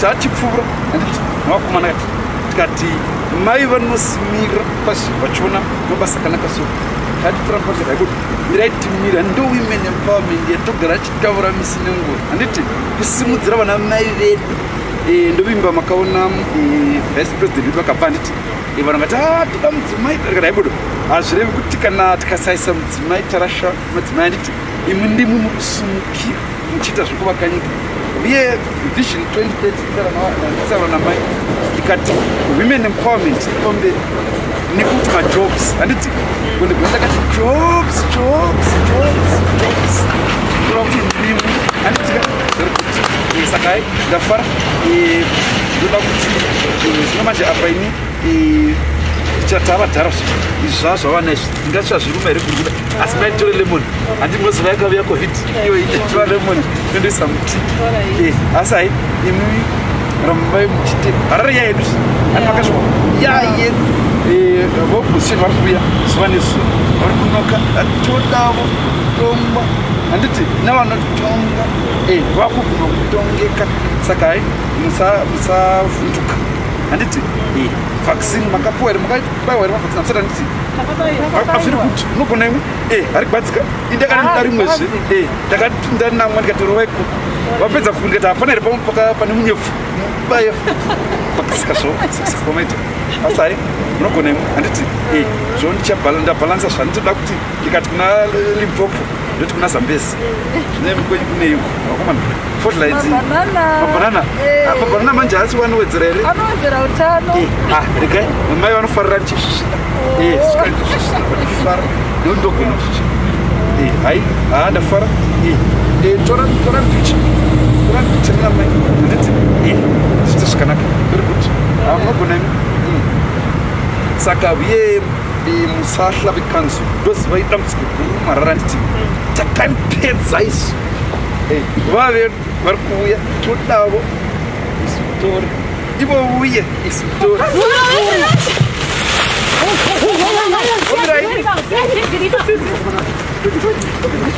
tachipfuura mwakomana kati tikati mai vanosimira pasi vachiona mabasa akanaka so tatipfuura pasi raikuti mirai timira ndo women empowerment yatogara achitaura misi nenguva handiti kusimudzira vana mai vedu eh, ndovimba makaona eh, vice president vedu vakabva handiti eh, vanhu vati ah, toda mudzimai tarikati raibudo hazvirevi kuti kana tikasaisa mudzimai tarasha madzimai anditi imwe ndimwe mukusimukira muchiita zvekuvakanyika uye vision 2030 namai ndikati women empowerment ipamberi nekuti majobs handiti kundigona ndakati jobs jobs jobs jobs kureva kuti ndimu handiti zari kuti eh, sakai ndafara eh, ndoda kuti eh, zvino manje apa ini chatava dhara izvi zvava zvavana izvi ndingatsva zviruma here kuri kuda asi maitore lemon handi moziva yakavuya covid iyo ichiva lemon inondoisa muti eh, asi hai imi rambai muchite harare ya yedu ani makasvika ya yedu eh, vobushe vari kuuya zuva nezuva vari kunoka atodavo tomba handiti navanotonga eh, vakubvuma kutongeka saka hai musavhunduka handiti vaccine makapuwa here makabaiwa here mavaccine amusati handiti afiri kuti unogona imwe e ari kubadzika indakanamda ah, rimwezve e ndakandanamwa ndikatorovai ku vapedza kuku ndikati hapana here pamwe pane munyepfu baye pakasika zvo sikomaita asi hai munogona imwe handiti e zvo ndichabhalansa zvanitoda kuti ndikati kuna limpopo ndoti kuna zambezi zvine kwenyu kuneiko vakomana fodlights mabanana eh. ah, mabanana manje haasi wanowedzera here anowedzera utano eh, ah, regai mamai vanofarira ndichisvisvina eh, svika ndichisvisvina ndifara nekuti ndogona kusvisvina hai haa ah, ndafara tora tora mpicha tora mpicha namai nditi zviite zvakanaka very good munogona imi hmm. saka uye Eh, musahla vekanso ndoziva idambudziko guru marara nditi takanipedza isu eh, vave vari kuuya todavo isu tore ivo uye isu tore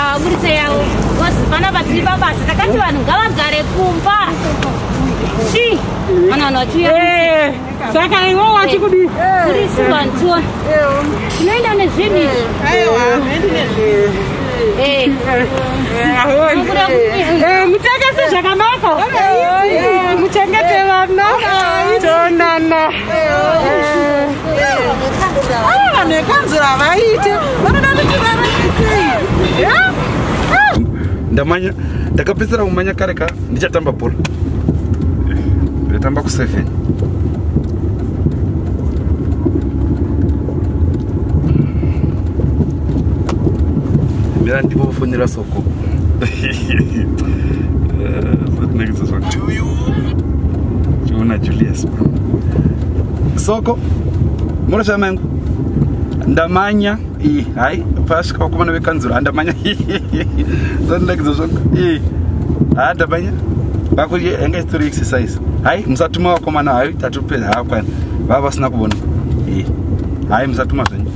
aburitsa yavo vana vatiri pabasa takati vanhu ngavagare kumba chi vana vanhu vachiuya eh, saka iwo wachi kudii kurisi vanhu tiona tinoenda nezvinhu izvi muchengete vana tonana vanhu vekanzura havaite vanoda kuti varaisei ndamanya ndakapedzera kumanya kare ka ndichatamba bhora ndatamba kuseven mira ndivo vofonera so chiona julius soko munoshaya mangu ndamanya i hai pasvika vakomana vekanzuro handamanya zvandirakidza zvako i ha ndamanya vako yanga isitori exercise hai musatuma vakomana hai tatopedza haakwana vava vasina kubona i hai musatuma zvenyu